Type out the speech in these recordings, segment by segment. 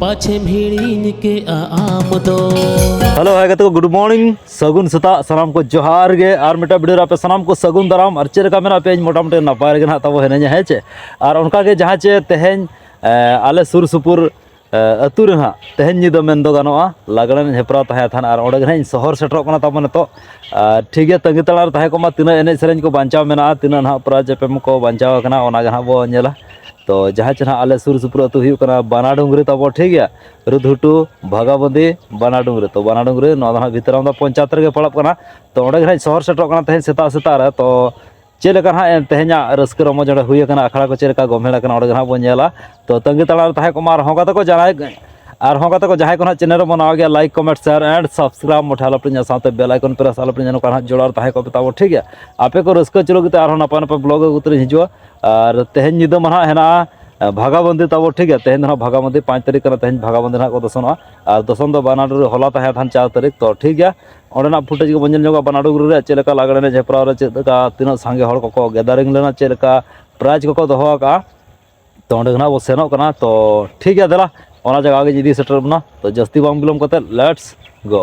ᱯᱟᱪᱷᱮᱢ ᱦᱤᱲᱤᱧ ᱠᱮᱜᱼᱟ ᱟᱢ ᱫᱚ ᱦᱮᱞᱳ ᱦᱟᱭ ᱜᱟᱛᱮ ᱠᱚ ᱜᱩᱰ ᱢᱚᱨᱱᱤᱝ ᱥᱟᱹᱜᱩᱱ ᱥᱮᱛᱟᱜ ᱥᱟᱱᱟᱢ ᱠᱚ ᱡᱚᱦᱟᱨ ᱜᱮ ᱟᱨ ᱢᱤᱫᱴᱟᱝ ᱵᱷᱤᱰᱤᱭᱳ ᱨᱮ ᱟᱯᱮ ᱥᱟᱱᱟᱢ ᱠᱚ ᱥᱟᱹᱜᱩᱱ ᱫᱟᱨᱟᱢ ᱟᱨ ᱪᱮᱫ ᱞᱮᱠᱟ ᱢᱮᱱᱟᱜ ᱯᱮᱭᱟ ᱤᱧ ᱢᱚᱴᱟᱢᱩᱴᱤ ᱱᱟᱯᱟᱭ ᱨᱮᱜᱮ ᱱᱟᱦᱟᱜ ᱛᱟᱵᱚ ᱦᱤᱱᱟᱹᱧᱟ ᱦᱮᱸ ᱪᱮ ᱟᱨ ᱚᱱᱠᱟᱜᱮ ᱡᱟᱦᱟᱸ ᱪᱮ ᱛᱮᱦᱮᱧ ᱟᱞᱮ ᱥᱩᱨ ᱥᱩᱯᱩᱨ ᱟᱹᱛᱩ ᱨᱮ ᱱᱟᱦᱟᱜ ᱛᱮᱦᱮᱧ ᱧᱤᱫᱟᱹ ᱢᱮᱱ ᱫᱚ ᱜᱟᱱᱚᱜᱼᱟ ᱞᱟᱜᱽᱬᱮ ᱦᱮᱯᱨᱟᱣ ᱛᱟᱦᱮᱸ ᱛᱟᱦᱮᱱ ᱟᱨ ᱚᱸᱰᱮ ᱜᱮ ᱱᱟᱦᱟᱜ ᱤᱧ ᱥᱚᱦᱚᱨ ᱥᱮᱴᱮᱨᱚᱜ ᱠᱟᱱᱟ ᱛᱟᱵᱚᱱ ᱱᱤᱛᱚᱜ ᱴᱷᱤᱠ ᱜᱮᱭᱟ ᱛᱟᱺᱜᱤ ᱛᱟᱲᱟᱨ ᱛᱟᱦᱮᱸ ᱠᱚᱜ ᱢᱟ ᱛᱤᱱᱟᱹᱜ ᱮᱱᱮᱡ ᱥᱮᱨᱮᱧ ᱠᱚ ᱵᱟᱧᱪᱟᱣ ᱢᱮᱱᱟᱜᱼᱟ ᱛᱤᱱᱟᱹᱜ ᱱᱟᱦᱟᱜ ᱯᱨᱟᱭᱤᱡᱽ ᱮᱯᱮᱢ ᱠᱚ ᱵᱟᱧᱪᱟᱣ ᱠᱟᱱᱟ ᱚᱱᱟᱜᱮ ᱱᱟᱦᱟᱜ ᱵᱚᱱ ᱧᱮᱞᱟ ᱛᱚ ᱡᱟᱦᱟᱸ ᱪᱮᱫ ᱦᱟᱸᱜ ᱟᱞᱮ ᱥᱩᱨ ᱥᱩᱯᱩᱨ ᱟᱹᱛᱩ ᱦᱩᱭᱩᱜ ᱠᱟᱱᱟ ᱵᱟᱱᱟ ᱰᱩᱝᱨᱤ ᱛᱟᱵᱚ ᱴᱷᱤᱠ ᱜᱮᱭᱟ ᱨᱩᱫᱷᱩᱴᱩ ᱵᱷᱟᱜᱟᱵᱚᱱᱫᱤ ᱵᱟᱱᱟ ᱰᱩᱝᱨᱤ ᱛᱚ ᱵᱟᱱᱟ ᱰᱩᱝᱨᱤ ᱱᱚᱣᱟ ᱫᱚ ᱦᱟᱸᱜ ᱵᱷᱤᱛᱨᱟᱢ ᱫᱚ ᱯᱚᱧᱪᱟᱭᱮᱛ ᱨᱮᱜᱮ ᱯᱟᱲᱟᱜ ᱠᱟᱱᱟ ᱛᱚ ᱚᱸᱰᱮ ᱜᱮ ᱦᱟᱸᱜ ᱥᱚᱦᱚᱨ ᱥᱮᱴᱮᱨᱚᱜ ᱠᱟᱱᱟ ᱛᱮᱦᱮᱧ ᱥᱮᱛᱟᱜ ᱥᱮᱛᱟᱜ ᱨᱮ ᱛᱚ ᱪᱮᱫ ᱞᱮᱠᱟ ᱦᱟᱸᱜ ᱛᱮᱦᱮᱧᱟᱜ ᱨᱟᱹᱥᱠᱟᱹ ᱨᱚᱢᱚᱡᱽ ᱚᱸᱰᱮ ᱦᱩᱭ ᱠᱟᱱᱟ ᱟᱠᱷᱲᱟ ᱠᱚ ᱪᱮᱫ ᱞᱮᱠᱟ ᱜᱳᱢᱮᱲ ᱠᱟᱱᱟ ᱚᱸᱰᱮ ᱜᱮ ᱦᱟᱸᱜ ᱵᱚᱱ ᱧᱮᱞᱟ ᱛᱚ ᱛᱟᱺᱜᱤ ᱛᱟᱲᱟᱜ ᱨᱮ ᱛᱟᱦᱮᱸ ᱠᱚᱜ ᱢᱟ ᱟᱨᱦᱚᱸ ᱜᱟᱛᱮ ᱠᱚ ᱡᱟᱦᱟᱸᱭ ᱟᱨᱦᱚᱸ ᱜᱟᱛᱮ ᱠᱚ ᱡᱟᱦᱟᱸᱭ ᱠᱚ ᱦᱟᱸᱜ ᱪᱮᱱᱮᱞ ᱨᱮᱵᱚᱱ ᱱᱟᱣᱟ ᱜᱮᱭᱟ like comment share and subscribe ᱢᱚᱴᱷᱮ ᱟᱞᱚ ᱯᱮ ᱧᱮᱞ ᱥᱟᱶᱛᱮ ᱵᱮᱞ ᱟᱭᱠᱚᱱ ᱯᱨᱮᱥ ᱟᱞᱚ ᱯᱮ ᱧᱮᱞ ᱱᱚᱝᱠᱟ ᱦᱟᱸᱜ ᱡᱚᱲᱟᱣ ᱛᱟᱦᱮᱸ ᱠᱚᱜ ᱯᱮ ᱛᱟᱵᱚ ᱴᱷᱤᱠ ᱜᱮᱭᱟ ᱟᱯᱮ ᱠᱚ ᱨᱟᱹᱥᱠᱟᱹ ᱦᱚᱪᱚ ᱞᱟᱹᱜᱤᱫ ᱛᱮ ᱟᱨᱦᱚᱸ ᱱᱟᱯᱟᱭ ᱱᱟᱯᱟᱭ ᱵᱞᱚᱜᱽ ᱟᱹᱜᱩ ᱠᱟᱛᱮᱫ ᱞᱤᱧ ᱦᱤᱡᱩᱜᱼᱟ ᱟᱨ ᱛᱮᱦᱮᱧ ᱧᱤᱫᱟᱹ ᱢᱟ ᱱᱟᱦᱟᱜ ᱦᱮᱱᱟᱜᱼᱟ ᱵᱷᱟᱜᱟᱵᱚᱱᱫᱤ ᱛᱟᱵᱚ ᱴᱷᱤᱠ ᱜᱮᱭᱟ ᱛᱮᱦᱮᱧ ᱫᱚ ᱱᱟᱦᱟᱜ ᱵᱷᱟᱜᱟᱵᱚᱱᱫᱤ ᱯᱟᱸᱪ ᱛᱟᱹᱨᱤᱠᱷ ᱠᱟᱱᱟ ᱛᱮᱦᱮᱧ ᱵᱷᱟᱜᱟᱵᱚᱱᱫᱤ ᱱᱟᱦᱟᱜ ᱠᱚ ᱫᱚᱥᱚᱱᱚᱜᱼᱟ ᱟᱨ ᱫᱚᱥᱚᱱ ᱫᱚ ᱵᱟᱱᱟᱰᱩᱜᱨᱤ ᱦᱚᱞᱟ ᱛᱟᱦᱮᱸ ᱠᱟᱱ ᱪᱟᱨ ᱛᱟᱹᱨᱤᱠᱷ ᱛᱚ ᱴᱷᱤᱠ ᱜᱮᱭᱟ ᱚᱸᱰᱮᱱᱟᱜ ᱯᱷᱩᱴᱮᱡᱽ ᱜᱮᱵᱚᱱ ᱧᱮᱞ ᱧᱚᱜᱟ ᱵᱟᱱᱟᱰᱩᱜᱨᱤ ᱨᱮ ᱪᱮᱫ ᱞᱮᱠᱟ ᱞᱟᱜᱽᱬᱮ ᱮᱱᱮᱡ ᱦᱮᱯᱨᱟᱣ ᱨᱮ ᱪᱮᱫ ᱞᱮᱠᱟ ᱛᱤᱱᱟᱹᱜ ᱥᱟᱸᱜᱮ ᱦᱚᱲ ᱠᱚᱠᱚ ᱜᱮᱫᱟᱨᱤᱝ ᱞᱮᱱᱟ ᱪᱮᱫ ᱞᱮᱠᱟ ᱯᱨᱟᱭᱤᱡᱽ ᱠᱚᱠᱚ ᱫᱚᱦᱚ ᱟᱠᱟᱫᱼᱟ ᱛᱚ ᱚᱸᱰᱮ ᱜᱮ ᱱᱟᱦᱟᱜ ᱵᱚᱱ ᱥᱮᱱᱚᱜ ᱠᱟᱱᱟ ᱛᱚ ᱴᱷᱤᱠ ᱜᱮᱭᱟ ᱫᱮᱞᱟ ᱚᱱᱟ ᱡᱟᱭᱜᱟ ᱜᱮᱧ ᱤᱫᱤ ᱥᱮᱴᱮᱨ ᱵᱚᱱᱟ ᱛᱚ ᱡᱟᱹᱥᱛᱤ ᱵᱟᱝ ᱵᱤᱞᱚᱢ ᱠᱟᱛᱮᱫ ᱞᱮᱴᱥ ᱜᱳ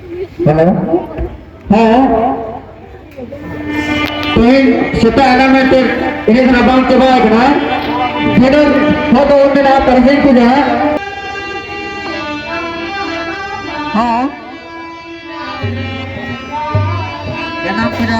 ᱦᱮᱞᱳ ᱦᱮᱸ ᱛᱮᱦᱮᱧ ᱥᱮᱛᱟᱜ ᱮᱱᱟ ᱢᱮᱱᱛᱮ ᱮᱱᱮᱡ ᱨᱮᱱᱟᱜ ᱵᱟᱝ ᱪᱟᱵᱟ ᱟᱠᱟᱱᱟ ᱡᱮᱱᱚ ᱦᱚᱲ ᱫᱚ ᱢᱮᱱᱟᱜᱼᱟ ᱯᱟᱨᱥᱮᱱ ᱠᱚ ᱡᱟᱦᱟᱸ ᱦᱮᱸ ᱡᱟᱱᱟᱢ ᱠᱮᱫᱟ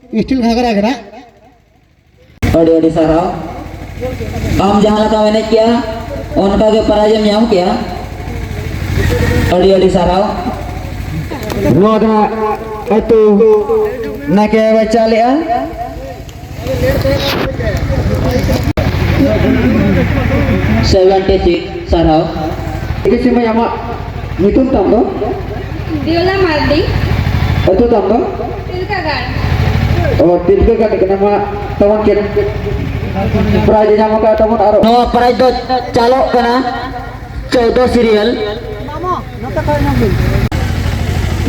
ᱤᱥᱴᱤᱞ ᱜᱷᱟᱜᱽᱨᱟ ᱜᱷᱟᱜᱽᱨᱟ ᱟᱹᱰᱤ ᱟᱹᱰᱤ ᱥᱟᱨᱦᱟᱣ ᱟᱢ ᱡᱟᱦᱟᱸ ᱞᱮᱠᱟ ᱮᱱᱮᱡ ᱠᱮᱜᱼᱟ ᱚᱱᱠᱟ ᱜᱮ ᱯᱨᱟᱭᱤᱡᱽ ᱮᱢ ᱧᱟᱢ ᱠᱮᱜᱼᱟ ᱟᱹᱰᱤ ᱟᱹᱰᱤ ᱥᱟᱨᱦᱟᱣ ᱱᱚᱣᱟ ᱫᱚ ᱟᱹᱛᱩ ᱱᱟᱭᱠᱮ ᱵᱟᱪᱟ ᱞᱮᱜᱼᱟ ᱥᱮᱵᱷᱮᱱᱴᱤ ᱥᱤᱠᱥ ᱥᱟᱨᱦᱟᱣ ᱴᱷᱤᱠ ᱟᱪᱷᱮ ᱢᱟᱹᱭ ᱟᱢᱟᱜ ᱧᱩᱛᱩᱢ ᱛᱟᱢ ᱫᱚ ᱫᱤᱭᱚᱞᱟ ᱢᱟᱨᱰᱤ ᱟᱹᱛᱩ ᱛᱟᱢ ᱫᱚ ᱛᱤᱞᱠᱟᱜᱟᱲ ᱚ ᱛᱤᱞᱠᱟᱜᱟᱲ ᱠᱟᱱᱟ ᱢᱟ ᱛᱟᱵᱚᱱ ᱪᱮᱫ ᱯᱨᱟᱭᱤᱡᱽ ᱧᱟᱢ ᱟᱠᱟᱫ ᱛᱟᱵᱚᱱ ᱟᱨ ᱱᱚᱣᱟ ᱯᱨᱟᱭᱤᱡᱽ ᱫᱚ ᱪᱟᱞᱚᱜ ᱠᱟᱱᱟ ᱪᱳᱫᱚ ᱥᱤᱨᱤᱭᱟᱞ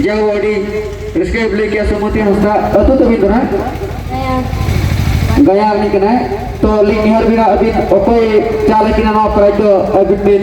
ᱡᱟᱣ ᱟᱹᱰᱤ ᱨᱟᱹᱥᱠᱟᱹ ᱵᱚᱞᱮ ᱠᱮ ᱥᱚᱢᱚᱛᱤ ᱦᱟᱸᱥᱫᱟ ᱟᱹᱛᱩ ᱛᱟᱹᱵᱤᱱ ᱠᱟᱱᱟ ᱜᱟᱭᱟ ᱩᱱᱤ ᱠᱟᱱᱟᱭ ᱛᱚ ᱞᱤᱧ ᱱᱮᱦᱚᱨ ᱵᱤᱱᱟ ᱟᱹᱵᱤᱱ ᱚᱠᱚᱭ ᱪᱟᱞ ᱠᱤᱱᱟ ᱱᱚᱣᱟ ᱯᱨᱟᱭᱤᱡᱽ ᱫᱚ ᱟᱹᱵᱤᱱ ᱵᱤᱱ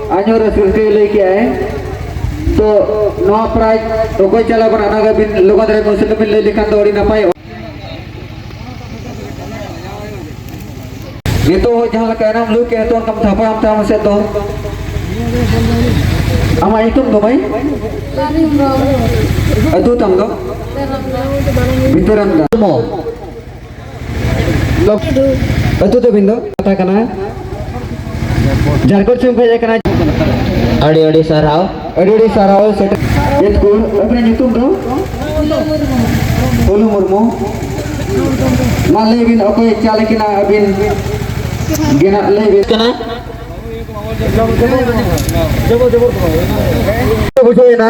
ᱟᱡᱚ ᱨᱟᱹᱥᱠᱟᱹ ᱞᱟᱹᱭ ᱠᱮᱜ ᱟᱭ ᱛᱚ ᱱᱚᱣᱟ ᱯᱨᱟᱭᱤᱡᱽ ᱚᱠᱚᱭ ᱪᱟᱞᱟᱣ ᱠᱟᱱᱟ ᱚᱱᱟ ᱜᱮ ᱵᱤᱱ ᱞᱚᱜᱚᱱ ᱫᱷᱟᱨᱟ ᱠᱚᱱᱥᱮᱱ ᱵᱤᱱ ᱞᱟᱹᱭ ᱞᱮᱠᱷᱟᱱ ᱫᱚ ᱟᱹᱰᱤ ᱱᱟᱯᱟᱭ ᱱᱤᱛᱚᱜ ᱦᱚᱸ ᱡᱟᱦᱟᱸ ᱞᱮᱠᱟ ᱮᱱᱟᱢ ᱞᱟᱹᱭ ᱠᱮᱜ ᱛᱚ ᱚᱱᱠᱟᱢ ᱛᱷᱟᱯᱲᱟᱢ ᱛᱟᱢ ᱥᱮ ᱫᱚ ᱟᱢᱟᱜ ᱧᱩᱛᱩᱢ ᱫᱚ ᱵᱷᱟᱹᱭ ᱟᱹᱛᱩ ᱛᱟᱢ ᱫᱚ ᱵᱤᱛᱟᱹᱨᱟᱢ ᱫᱟ ᱟᱹᱛᱩ ᱛᱟᱹᱵᱤᱱ ᱫᱚ ᱠᱟᱛᱷᱟ ᱠᱟᱱᱟ ᱡᱷᱟᱲᱠᱷᱚᱸᱰ ᱥᱮᱫ ᱠᱷᱚᱱ ᱦᱮᱡ ᱟᱠᱟᱱᱟ ᱟᱹᱰᱤ ᱟᱹᱰᱤ ᱥᱟᱨᱦᱟᱣ ᱟᱹᱰᱤ ᱟᱹᱰᱤ ᱥᱟᱨᱦᱟᱣ ᱥᱮᱴᱮᱨ ᱪᱮᱫ ᱠᱚ ᱟᱹᱵᱤᱱᱟᱜ ᱧᱩᱛᱩᱢ ᱫᱚ ᱚᱞᱩ ᱢᱩᱨᱢᱩ ᱢᱟ ᱞᱟᱹᱭ ᱵᱤᱱ ᱚᱠᱚᱭ ᱪᱟᱞ ᱠᱤᱱᱟ ᱟᱹᱵᱤᱱ ᱜᱮᱱᱟᱜ ᱞᱟᱹᱭ ᱵᱤᱱ ᱠᱟᱱᱟ ᱵᱩᱡᱷᱟᱹᱣᱮᱱᱟ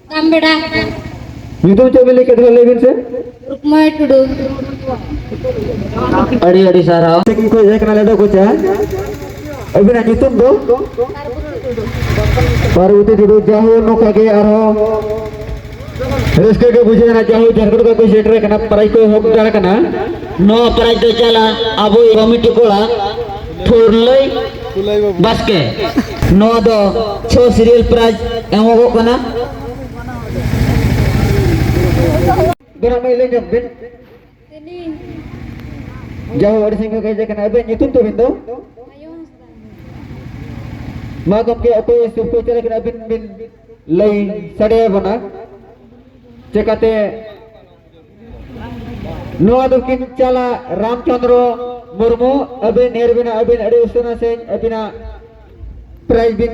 ᱛᱟᱢᱵᱮᱲᱟ ᱧᱩᱛᱩᱢ ᱪᱮᱫ ᱵᱤᱱ ᱞᱟᱹᱭ ᱠᱮᱫ ᱞᱟᱹᱭ ᱵᱤᱱ ᱥᱮ ᱨᱩᱠᱢᱟᱭ ᱴᱩᱰᱩ ᱟᱹᱰᱤ ᱟᱹᱰᱤ ᱥᱟᱨᱦᱟᱣ ᱥᱮᱠᱤᱝ ᱠᱷᱚᱡ ᱦᱮᱡ ᱠᱟᱱᱟ ᱞᱮᱰᱚ ᱠᱚᱪᱟ ᱟᱹᱵᱤᱱᱟᱜ ᱧᱩᱛᱩᱢ ᱫᱚ ᱯᱟᱨᱵᱚᱛᱤ ᱴᱩᱰᱩ ᱡᱟᱦᱳ ᱱᱚᱝᱠᱟ ᱜᱮ ᱟᱨᱦᱚᱸ ᱨᱟᱹᱥᱠᱟᱹ ᱜᱮ ᱵᱩᱡᱷᱟᱹᱣᱱᱟ ᱡᱟᱦᱳ ᱡᱷᱟᱨᱠᱷᱚᱸᱰ ᱠᱷᱚᱡ ᱠᱚ ᱥᱮᱴᱮᱨ ᱠᱟᱱᱟ ᱯᱨᱟᱭ ᱠᱚ ᱮᱦᱚᱵ ᱫᱟᱲ ᱠᱟᱱᱟ ᱱᱚᱣᱟ ᱯᱨᱟᱭ ᱫᱚ ᱪᱟᱞᱟ ᱟᱵᱚ ᱠᱚᱢᱤᱴᱤ ᱠᱚᱲᱟ ᱯᱷᱩᱨᱞᱟᱹᱭ ᱵᱟᱥᱠᱮ ᱱᱚᱣᱟ ᱫᱚ ᱪᱷᱚ ᱥᱤᱨᱤᱭᱟᱞ ᱯᱨᱟᱭᱤᱡᱽ ᱮᱢᱚᱜᱚᱜ ᱠᱟᱱᱟ ᱜᱚᱨᱚᱢ ᱢᱟᱹᱭ ᱞᱟᱹᱭ ᱧᱚᱜ ᱵᱤᱱ ᱡᱟᱦᱳ ᱟᱹᱰᱤ ᱥᱟᱺᱜᱤᱧ ᱠᱷᱚᱱ ᱦᱮᱡ ᱟᱠᱟᱱᱟ ᱟᱵᱮᱱ ᱧᱩᱛᱩᱢ ᱛᱟᱵᱮᱱ ᱫᱚ ᱢᱟ ᱜᱚᱢᱠᱮ ᱚᱠᱚᱭ ᱥᱩᱨ ᱠᱚ ᱪᱟᱞᱟᱜ ᱠᱟᱱᱟ ᱟᱵᱤᱱ ᱵᱤᱱ ᱞᱟᱹᱭ ᱥᱟᱰᱮᱭᱟᱵᱚᱱᱟ ᱪᱮᱠᱟᱛᱮ ᱱᱚᱣᱟ ᱫᱚ ᱠᱤᱱ ᱪᱟᱞᱟ ᱨᱟᱢᱪᱚᱸᱫᱽᱨᱚ ᱢᱩᱨᱢᱩ ᱟᱹᱵᱤᱱ ᱱᱮᱨ ᱵᱤᱱᱟ ᱟᱹᱵᱤᱱ ᱟᱹᱰᱤ ᱩᱥᱟᱹᱨᱟ ᱥᱮ ᱟᱹᱵᱤᱱᱟᱜ ᱯᱨᱟᱭᱤᱡᱽ ᱵᱤᱱ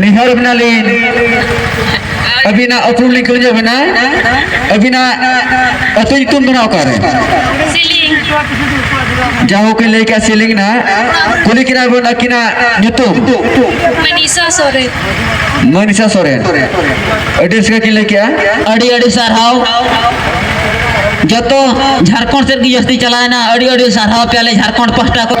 ᱱᱮᱦᱚᱨ ᱵᱮᱱᱟᱞᱤᱧ ᱟᱹᱵᱤᱱᱟᱜ ᱟᱹᱛᱩ ᱞᱤᱧ ᱠᱩᱞᱤᱧ ᱵᱮᱱᱟ ᱟᱹᱵᱤᱱᱟᱜ ᱟᱹᱛᱩ ᱧᱩᱛᱩᱢ ᱫᱚ ᱚᱠᱟᱨᱮ ᱡᱟᱦᱳ ᱠᱚ ᱞᱟᱹᱭ ᱠᱮᱫ ᱥᱤᱞᱤᱝ ᱱᱟ ᱠᱩᱞᱤ ᱠᱤᱱᱟ ᱵᱚᱱ ᱟᱹᱠᱤᱱᱟᱜ ᱧᱩᱛᱩᱢ ᱢᱟᱱᱤᱥᱟ ᱥᱚᱨᱮᱱ ᱢᱟᱱᱤᱥᱟ ᱥᱚᱨᱮᱱ ᱟᱹᱰᱤ ᱨᱟᱹᱥᱠᱟᱹ ᱠᱤᱱ ᱞᱟᱹᱭ ᱠᱮᱫᱼᱟ ᱟᱹᱰᱤ ᱟᱹᱰᱤ ᱥᱟᱨᱦᱟᱣ ᱡᱚᱛᱚ ᱡᱷᱟᱲᱠᱷᱚᱸᱰ ᱥᱮᱫ ᱜᱮ ᱡᱟᱹᱥᱛᱤ ᱪᱟᱞᱟᱣᱮᱱᱟ ᱟᱹᱰᱤ ᱟᱹᱰᱤ ᱥᱟᱨᱦᱟᱣ ᱯᱮᱭᱟᱞᱮ ᱡᱷᱟᱲᱠᱷᱚᱸᱰ ᱯᱟᱦᱴᱟ ᱠᱷᱚᱱ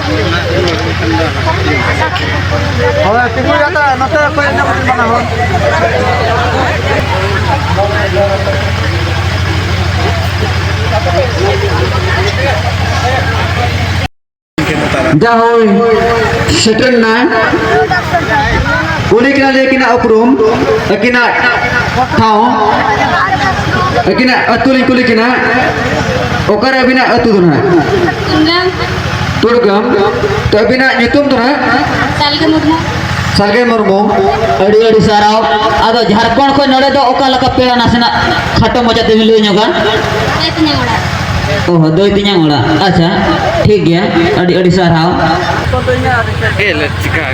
ᱦᱳᱭ ᱛᱤᱸᱜᱩ ᱠᱟᱛᱮ ᱱᱚᱛᱮ ᱚᱠᱚᱭ ᱮᱱᱮᱡ ᱠᱟᱛᱮ ᱵᱟᱱᱟ ᱦᱚᱲ ᱡᱟ ᱦᱳᱭ ᱥᱮᱴᱮᱨ ᱱᱟ ᱩᱱᱤ ᱠᱟᱱᱟ ᱞᱟᱹᱭ ᱠᱤᱱᱟ ᱩᱯᱨᱩᱢ ᱟᱹᱠᱤᱱᱟᱜ ᱴᱷᱟᱶ ᱟᱹᱠᱤᱱᱟᱜ ᱟᱹᱛᱩ ᱞᱤᱧ ᱠᱩᱞᱤ ᱠᱤᱱᱟ ᱚᱠᱟᱨᱮ ᱟᱹᱵᱤᱱᱟᱜ ᱟᱹᱛᱩ ᱫᱚ ᱱᱟᱦᱟᱜ ᱛᱩᱨᱜᱟᱢ ᱛᱚ ᱟᱹᱵᱤᱱᱟᱜ ᱧᱩᱛᱩᱢ ᱫᱚ ᱦᱟᱸᱜ ᱥᱟᱞᱜᱮ ᱢᱩᱨᱢᱩ ᱥᱟᱞᱜᱮ ᱢᱩᱨᱢᱩ ᱟᱹᱰᱤ ᱟᱹᱰᱤ ᱥᱟᱨᱦᱟᱣ ᱟᱫᱚ ᱡᱷᱟᱲᱠᱷᱚᱸᱰ ᱠᱷᱚᱱ ᱱᱚᱰᱮ ᱫᱚ ᱚᱠᱟ ᱞᱮᱠᱟ ᱯᱮᱲᱟ ᱱᱟᱥᱮᱱᱟᱜ ᱠᱷᱟᱴᱚ ᱢᱚᱡᱟ ᱛᱮᱵᱤᱱ ᱞᱟᱹᱭ ᱧᱚᱜᱟ ᱫᱟᱹᱭ ᱛᱤᱧᱟᱹᱝ ᱚᱲᱟᱜ ᱚᱦᱚ ᱫᱟᱹᱭ ᱛᱤᱧᱟᱝ ᱚᱲᱟᱜ ᱟᱪᱪᱷᱟ ᱴᱷᱤᱠ ᱜᱮᱭᱟ ᱟᱹᱰᱤ ᱟᱹᱰᱤ ᱥᱟᱨᱦᱟᱣ ᱠᱚᱫᱚ ᱤᱧᱟᱹᱜ ᱟᱨ ᱪᱮᱫ ᱪᱤᱠᱟᱹ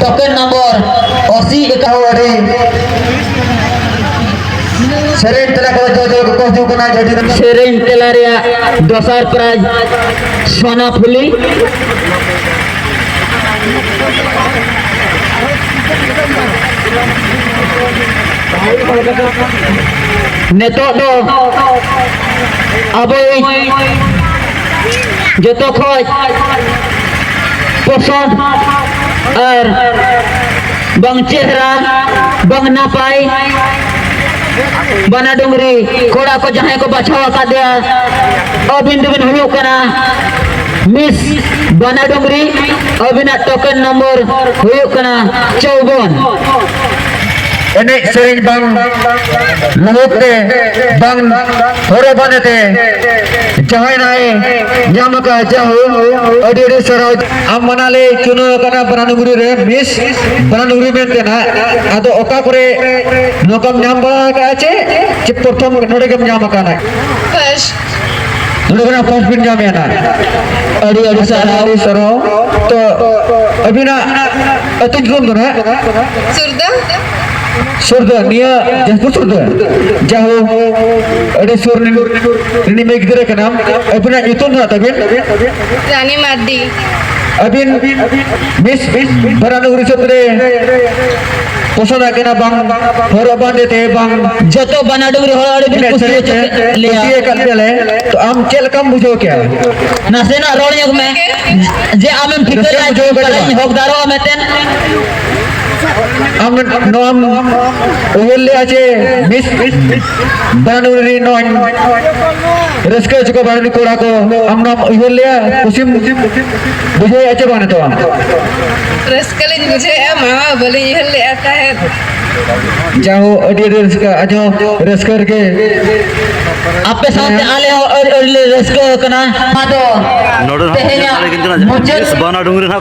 ᱴᱚᱠᱮᱱ ᱱᱚᱢᱵᱚᱨ ᱚᱥᱤ ᱮᱠᱟᱣ ᱟᱹᱰᱤ ᱥᱮᱨᱮᱧ ᱛᱮᱞᱟ ᱠᱚ ᱡᱚ ᱡᱚ ᱠᱚ ᱦᱤᱡᱩᱜ ᱠᱟᱱᱟ ᱡᱟᱹᱰᱤ ᱥᱮᱨᱮᱧ ᱛᱮᱞᱟ ᱨᱮᱭᱟᱜ ᱫᱚᱥᱟᱨ ᱯᱨᱟᱭᱤᱡᱽ ᱥᱚᱱᱟ ᱯᱷᱩᱞᱤ ᱱᱤᱛᱚᱜ ᱫᱚ ᱟᱵᱚᱭᱤᱡ ᱡᱚᱛᱚ ᱠᱷᱚᱡ ᱯᱚᱥᱚᱱᱫ ᱟᱨ ᱵᱟᱝ ᱪᱮᱦᱨᱟ ᱵᱟᱝ ᱱᱟᱯᱟᱭ ᱵᱟᱱᱟ ᱰᱩᱝᱨᱤ ᱠᱚᱲᱟ ᱠᱚ ᱡᱟᱦᱟᱸᱭ ᱠᱚ ᱵᱟᱪᱷᱟᱣ ᱟᱠᱟᱫᱮᱭᱟ ᱟᱹᱵᱤᱱ ᱫᱚᱵᱤᱱ ᱦᱩᱭᱩᱜ ᱠᱟᱱᱟ ᱢᱤᱥ ᱵᱟᱱᱟ ᱰᱩᱝᱨᱤ ᱟᱹᱵᱤᱱᱟᱜ ᱴᱳᱠᱮᱱ ᱱᱚᱢᱵᱚᱨ ᱦᱩᱭᱩᱜ ᱠᱟᱱᱟ ᱪᱚᱣᱵᱚᱱ ᱮᱱᱮᱡ ᱥᱮᱨᱮᱧ ᱵᱟᱝ ᱞᱩᱦᱩᱠ ᱛᱮ ᱵᱟᱝ ᱦᱚᱨᱚ ᱵᱟᱸᱫᱮ ᱛᱮ ᱡᱟᱦᱟᱸᱭ ᱱᱟᱭ ᱧᱟᱢ ᱟᱠᱟᱫ ᱡᱟᱦᱳ ᱟᱹᱰᱤ ᱟᱹᱰᱤ ᱥᱟᱨᱦᱟᱣ ᱟᱢ ᱢᱟᱱᱟ ᱞᱮ ᱪᱩᱱᱟᱹᱣ ᱟᱠᱟᱱᱟ ᱵᱟᱱᱟᱱᱩᱜᱩᱨᱤ ᱨᱮ ᱢᱤᱥ ᱵᱟᱱᱟᱱᱩᱜᱩᱨᱤ ᱢᱮᱱᱛᱮ ᱱᱟᱜ ᱟᱫᱚ ᱚᱠᱟ ᱠᱚᱨᱮ ᱱᱚᱝᱠᱟᱢ ᱧᱟᱢ ᱵᱟᱲᱟ ᱟᱠᱟᱫᱼᱟ ᱪᱮ ᱪᱮ ᱯᱨᱚᱛᱷᱚᱢ ᱱᱚᱰᱮ ᱜᱮᱢ ᱧᱟᱢ ᱟᱠᱟᱱᱟ ᱱᱚᱰᱮ ᱠᱷᱚᱱᱟᱜ ᱯᱷᱟᱥᱴ ᱵᱤᱱ ᱧᱟᱢᱮᱫᱼᱟ ᱱᱟᱜ ᱟᱹᱰᱤ ᱟᱹᱰᱤ ᱥᱟᱨᱦᱟᱣ ᱥᱟᱨᱦᱟᱣ ᱛᱚ ᱟᱹᱵᱤᱱᱟᱜ ᱟᱹᱛᱩ ᱧᱩᱛᱩᱢ ᱫᱚ ᱱᱟᱜ ᱥᱩᱨᱫᱟ ᱥᱩᱨᱫᱚ ᱱᱤᱭᱟᱹ ᱡᱟᱦᱟᱸ ᱥᱩᱨᱫᱚ ᱡᱟᱦᱳ ᱟᱹᱰᱤ ᱥᱩᱨ ᱨᱤᱱᱤ ᱢᱮ ᱜᱤᱫᱽᱨᱟᱹ ᱠᱟᱱᱟ ᱟᱹᱵᱤᱱᱟᱜ ᱧᱩᱛᱩᱢ ᱫᱚ ᱛᱟᱵᱤᱱ ᱨᱟᱱᱤ ᱢᱟᱨᱰᱤ ᱟᱹᱵᱤᱱ ᱢᱤᱥ ᱵᱟᱨᱟᱱᱩ ᱦᱤᱥᱟᱹᱵ ᱨᱮ ᱯᱚᱥᱚᱱᱫ ᱟᱠᱟᱱᱟ ᱵᱟᱝ ᱦᱚᱨᱚᱜ ᱵᱟᱸᱫᱮ ᱛᱮ ᱵᱟᱝ ᱡᱚᱛᱚ ᱵᱟᱱᱟᱰᱩ ᱨᱮ ᱦᱚᱲ ᱟᱹᱰᱤ ᱠᱩᱥᱤ ᱞᱮᱭᱟ ᱠᱩᱥᱤ ᱟᱠᱟᱫ ᱯᱮᱞᱮ ᱛᱚ ᱟᱢ ᱪᱮᱫ ᱞᱮᱠᱟᱢ ᱵᱩᱡᱷᱟᱹᱣ ᱠᱮᱭᱟ ᱱᱟᱥᱮᱱᱟᱜ ᱨᱚᱲ ᱧᱚᱜ ᱢᱮ ᱡᱮ ᱟᱢᱮᱢ ᱴᱷᱤᱠᱟᱹ ᱞᱮᱫᱟ ᱡᱮ ᱦᱚᱠᱫᱟᱨᱚᱜᱼᱟ ᱢᱮᱛᱮᱱ ᱱᱚᱣᱟᱢ ᱩᱭᱦᱟᱹᱨ ᱞᱮᱜᱼᱟ ᱡᱮ ᱢᱤᱥ ᱵᱟᱱᱩᱨ ᱨᱮ ᱱᱚᱣᱟᱧ ᱨᱟᱹᱥᱠᱟᱹ ᱦᱚᱪᱚ ᱠᱚ ᱵᱟᱱᱩᱨ ᱠᱚᱲᱟ ᱠᱚ ᱟᱢ ᱱᱚᱣᱟᱢ ᱩᱭᱦᱟᱹᱨ ᱞᱮᱜᱼᱟ ᱠᱩᱥᱤᱢ ᱵᱩᱡᱷᱟᱹᱣᱮᱜᱼᱟ ᱪᱮ ᱵᱟᱝ ᱱᱤᱛᱚᱜ ᱨᱟᱹᱥᱠᱟᱹ ᱞᱤᱧ ᱵᱩᱡᱷᱟᱹᱣᱮᱜᱼᱟ ᱢᱟᱢᱟ ᱵᱟᱹᱞᱤᱧ ᱩᱭᱦᱟᱹᱨ ᱞᱮᱜᱼᱟ ᱛᱟᱦᱮᱸᱫ ᱡᱟᱦᱳ ᱟᱹᱰᱤ ᱟᱹᱰᱤ ᱨᱟᱹᱥᱠᱟᱹ ᱟᱡᱚ ᱨᱟᱹᱥᱠᱟᱹ ᱨᱮᱜᱮ ᱟᱯᱮ ᱥᱟᱶᱛᱮ ᱟᱞᱮ ᱦᱚᱸ ᱟᱹᱰᱤ ᱟᱹᱰᱤ ᱞᱮ ᱨᱟᱹᱥᱠᱟᱹ ᱟᱠᱟᱱᱟ ᱟᱫᱚ ᱛᱮᱦᱮᱧᱟᱜ ᱢᱩᱪᱟᱹᱫ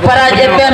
ᱯᱟᱨᱟᱡᱽ ᱮᱯᱮᱢ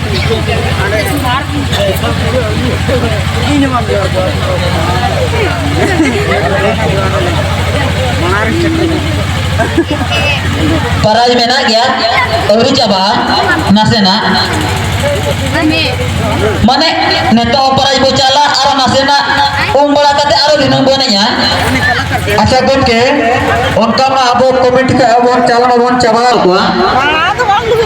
ᱯᱟᱨᱟᱡᱽ ᱢᱮᱱᱟᱜ ᱜᱮᱭᱟ ᱟᱹᱣᱨᱤ ᱪᱟᱵᱟᱜᱼᱟ ᱱᱟᱥᱮᱱᱟᱜ ᱢᱟᱱᱮ ᱱᱤᱛᱚᱜ ᱯᱟᱨᱟᱡᱽ ᱵᱚ ᱪᱟᱞᱟᱜ ᱟᱨ ᱱᱟᱥᱮᱱᱟᱜ ᱩᱢ ᱵᱟᱲᱟ ᱠᱟᱛᱮ ᱟᱨᱚ ᱫᱤᱱᱟᱹᱢ ᱵᱚᱱ ᱮᱱᱮᱡᱟ ᱟᱪᱪᱷᱟ ᱜᱚᱢᱠᱮ ᱚᱱᱠᱟ ᱢᱟ ᱟᱵᱚ ᱠᱚᱢᱤᱴᱤ ᱠᱷᱚᱱ ᱟᱵᱚ ᱪᱟᱞᱟᱣ ᱵᱚᱱ ᱪᱟᱵᱟ ᱠᱚᱣᱟ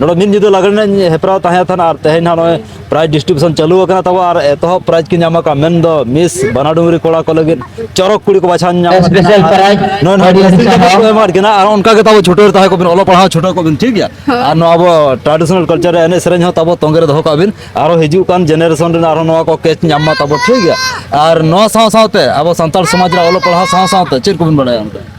ᱱᱚᱰᱮ ᱢᱤᱫ ᱧᱤᱫᱟᱹ ᱞᱟᱜᱽᱬᱮ ᱮᱱᱮᱡ ᱦᱮᱯᱨᱟᱣ ᱛᱟᱦᱮᱸ ᱠᱟᱱᱟ ᱟᱨ ᱛᱮᱦᱮᱧ ᱦᱟᱸᱜ ᱱᱚᱜᱼᱚᱭ ᱯᱨᱟᱭᱤᱡᱽ ᱰᱤᱥᱴᱨᱤᱵᱤᱭᱩᱥᱚᱱ ᱪᱟᱹᱞᱩ ᱟᱠᱟᱱᱟ ᱛᱟᱵᱚ ᱟᱨ ᱮᱛᱚᱦᱚᱵ ᱯᱨᱟᱭᱤᱡᱽ ᱠᱚ ᱧᱟᱢ ᱟᱠᱟᱫ ᱢᱮᱱᱫᱚ ᱢᱤᱥ ᱵᱟᱱᱟᱰᱩᱝᱨᱤ ᱠᱚᱲᱟ ᱠᱚ ᱞᱟᱹᱜᱤᱫ ᱪᱚᱨᱚᱠ ᱠᱩᱲᱤ ᱠᱚ ᱵᱟᱪᱷᱟᱣ ᱧᱟᱢ ᱥᱯᱮᱥᱟᱞ ᱯᱨᱟᱭᱤᱡᱽ ᱱᱚᱜᱼᱚᱭ ᱱᱚᱣᱟ ᱰᱨᱮᱥᱤᱝ ᱴᱮᱵᱤᱞ ᱠᱚ ᱮᱢᱟᱫ ᱠᱤᱱᱟ ᱟᱨ ᱚᱱᱠᱟ ᱜᱮ ᱛᱟᱵᱚ ᱪᱷᱩᱴᱟᱹᱣ ᱛᱟᱦᱮᱸ ᱠᱚᱵᱤᱱ ᱚᱞᱚᱜ ᱯᱟᱲᱦᱟᱣ ᱪᱷᱩᱴᱟᱹᱣ ᱠᱚᱵᱤᱱ ᱴᱷᱤᱠ ᱜᱮᱭᱟ ᱟᱨ ᱱᱚᱣᱟ ᱟᱵᱚ ᱴᱨᱟᱰᱤᱥᱚᱱᱟᱞ ᱠᱟᱞᱪᱟᱨ ᱨᱮ ᱮᱱᱮᱡ ᱥᱮᱨᱮᱧ ᱦᱚᱸ ᱛᱟᱵᱚ ᱛᱚᱸᱜᱮ ᱨᱮ ᱫᱚᱦᱚ ᱠᱟᱜ ᱵᱤᱱ ᱟᱨᱚ ᱦᱤᱡᱩᱜ ᱠᱟᱱ ᱡᱮᱱᱟᱨᱮᱥᱚᱱ ᱨᱮᱱ ᱟᱨᱚ ᱱᱚᱣᱟ ᱠᱚ ᱠᱮᱪ ᱧᱟᱢ ᱢᱟ ᱛᱟᱵᱚ ᱴᱷᱤᱠ ᱜᱮᱭᱟ ᱟᱨ ᱱᱚᱣᱟ ᱥᱟᱶ ᱥᱟᱶᱛᱮ ᱟᱵᱚ ᱥᱟᱱᱛᱟᱲ ᱥᱚᱢᱟᱡᱽ ᱨᱮ ᱚᱞᱚᱜ ᱯᱟᱲᱦᱟᱣ ᱥᱟᱶ ᱥᱟᱶᱛᱮ ᱪᱮᱫ ᱠᱚᱵᱤᱱ ᱵᱟᱲᱟᱭᱟ ᱚᱱᱠᱟ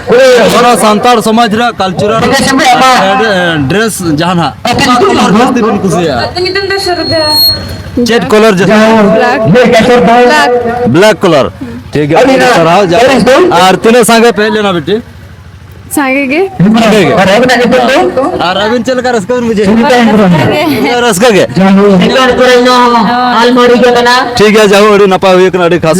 ᱦᱚᱲ ᱥᱟᱱᱛᱟᱲ ᱥᱚᱢᱟᱡᱽ ᱨᱮ ᱠᱟᱞᱪᱟᱨᱟᱞ ᱰᱨᱮᱥ ᱡᱟᱦᱟᱱᱟᱜ ᱚᱠᱟ ᱠᱚᱞᱚᱨ ᱡᱟᱹᱥᱛᱤ ᱵᱤᱱ ᱠᱩᱥᱤᱭᱟᱜᱼᱟ ᱪᱮᱫ ᱠᱚᱞᱚᱨ ᱡᱟᱹᱥᱛᱤ ᱵᱞᱮᱠ ᱠᱚᱞᱚᱨ ᱴᱷᱤᱠ ᱜᱮᱭᱟ ᱥᱟᱨᱦᱟᱣ ᱟᱨ ᱛᱤᱱᱟᱹᱜ ᱥᱟᱸᱜᱮ ᱯᱮ ᱦᱮᱡ ᱞᱮᱱᱟ ᱵᱤᱴᱤ ᱥᱟᱸᱜᱮ ᱜᱮ ᱟᱨ ᱟᱹᱵᱤᱱ ᱪᱮᱫ ᱞᱮᱠᱟ ᱨᱟᱹᱥᱠᱟᱹ ᱵᱤᱱ ᱵᱩᱡᱷᱟᱹᱣ ᱨᱟᱹᱥᱠᱟᱹ ᱜᱮ ᱴᱷᱤᱠ ᱜᱮᱭᱟ ᱡᱟᱦᱳ ᱟᱹᱰᱤ ᱱᱟᱯᱟᱭ ᱦᱩᱭ ᱠᱟᱱᱟ ᱟᱹᱰᱤ ᱠᱷᱟᱥ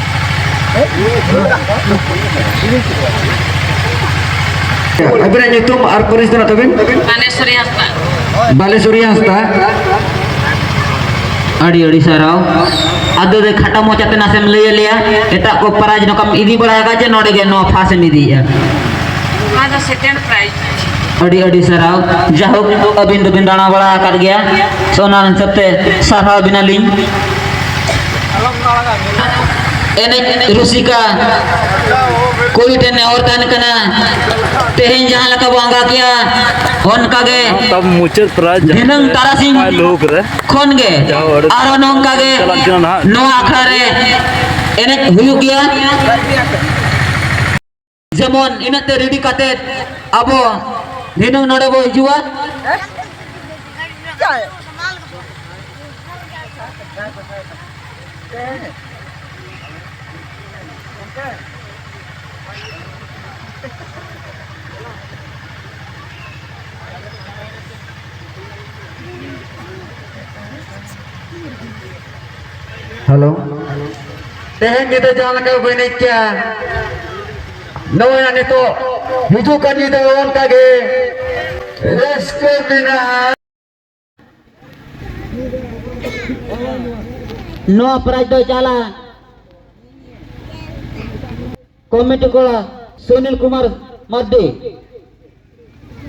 ᱟᱹᱵᱤᱱᱟᱜ ᱧᱩᱛᱩᱢ ᱟᱨ ᱯᱟᱹᱨᱤᱥ ᱫᱚ ᱛᱟᱹᱵᱤᱱ ᱵᱟᱞᱮᱥᱚᱨᱤ ᱦᱟᱸᱥᱫᱟ ᱵᱟᱞᱮᱥᱚᱨᱤ ᱦᱟᱸᱥᱫᱟ ᱟᱹᱰᱤ ᱟᱹᱰᱤ ᱥᱟᱨᱦᱟᱣ ᱟᱫᱚ ᱫᱚ ᱠᱷᱟᱴᱟ ᱢᱚᱪᱟᱛᱮ ᱱᱟᱥᱮᱢ ᱞᱟᱹᱭ ᱟᱞᱮᱭᱟ ᱮᱴᱟᱜ ᱠᱚ ᱯᱨᱟᱭᱤᱡᱽ ᱱᱚᱝᱠᱟᱢ ᱤᱫᱤ ᱵᱟᱲᱟ ᱟᱠᱟᱫ ᱡᱮ ᱱᱚᱰᱮ ᱜᱮ ᱱᱚᱣᱟ ᱯᱷᱟᱥᱴ ᱮᱢ ᱤᱫᱤᱭᱮᱜᱼᱟ ᱱᱚᱣᱟ ᱫᱚ ᱥᱮᱠᱮᱱᱰ ᱯᱨᱟᱭᱤᱡᱽ ᱟᱹᱰᱤ ᱟᱹᱰᱤ ᱥᱟᱨᱦᱟᱣ ᱡᱟᱭᱦᱳᱠ ᱟᱹᱵᱤᱱ ᱫᱚᱵᱤᱱ ᱫᱟᱬᱟ ᱵᱟᱲᱟ ᱟᱠᱟᱫ ᱜᱮᱭᱟ ᱥᱚᱱᱟ ᱦᱤᱥᱟᱹᱵ ᱛᱮ ᱥᱟᱨᱦᱟᱣ ᱵᱤᱱᱟᱞᱤᱧ ᱮᱱᱮᱡ ᱨᱩᱥᱤᱠᱟ ᱠᱩᱲᱤ ᱴᱷᱮᱱ ᱱᱮᱦᱚᱨ ᱛᱟᱦᱮᱱ ᱠᱟᱱᱟ ᱛᱮᱦᱮᱧ ᱡᱟᱦᱟᱸ ᱞᱮᱠᱟ ᱵᱚᱱ ᱟᱸᱜᱟ ᱠᱮᱜᱼᱟ ᱚᱱᱠᱟ ᱜᱮ ᱛᱟᱵ ᱢᱩᱪᱟᱹᱫ ᱯᱨᱟᱭ ᱫᱷᱤᱱᱟᱹᱝ ᱛᱟᱨᱟᱥᱤᱧ ᱞᱩᱠ ᱨᱮ ᱠᱷᱚᱱ ᱜᱮ ᱟᱨᱚ ᱱᱚᱝᱠᱟ ᱜᱮ ᱱᱚᱣᱟ ᱟᱠᱷᱲᱟ ᱨᱮ ᱮᱱᱮᱡ ᱦᱩᱭᱩᱜ ᱜᱮᱭᱟ ᱡᱮᱢᱚᱱ ᱤᱱᱟᱹᱜ ᱛᱮ ᱨᱮᱰᱤ ᱠᱟᱛᱮ ᱟᱵᱚ ᱫᱷᱤᱱᱟᱹᱝ ᱱᱚᱰᱮ ᱵᱚ ᱦᱤᱡᱩᱜᱼᱟ ᱦᱮᱞᱳ ᱛᱮᱦᱮᱧ ᱧᱤᱫᱟᱹ ᱡᱟᱦᱟᱸ ᱞᱮᱠᱟ ᱵᱚ ᱮᱱᱮᱡ ᱠᱮᱜᱼᱟ ᱱᱚᱜᱼᱚᱭ ᱱᱤᱛᱚᱜ ᱦᱤᱡᱩᱜ ᱠᱟᱱ ᱧᱤᱫᱟᱹ ᱚᱱᱠᱟ ᱜᱮ ᱨᱟᱹᱥᱠᱟᱹ ᱢᱮᱱᱟᱜᱼᱟ ᱱᱚᱣᱟ ᱯᱨᱟᱭᱤᱡᱽ ᱫᱚ ᱪᱟᱞᱟ ᱠᱚᱢᱤᱴᱤ ᱠᱚᱲᱟ ᱥᱩᱱᱤᱞ ᱠᱩᱢᱟᱨ ᱢᱟᱨᱰᱤ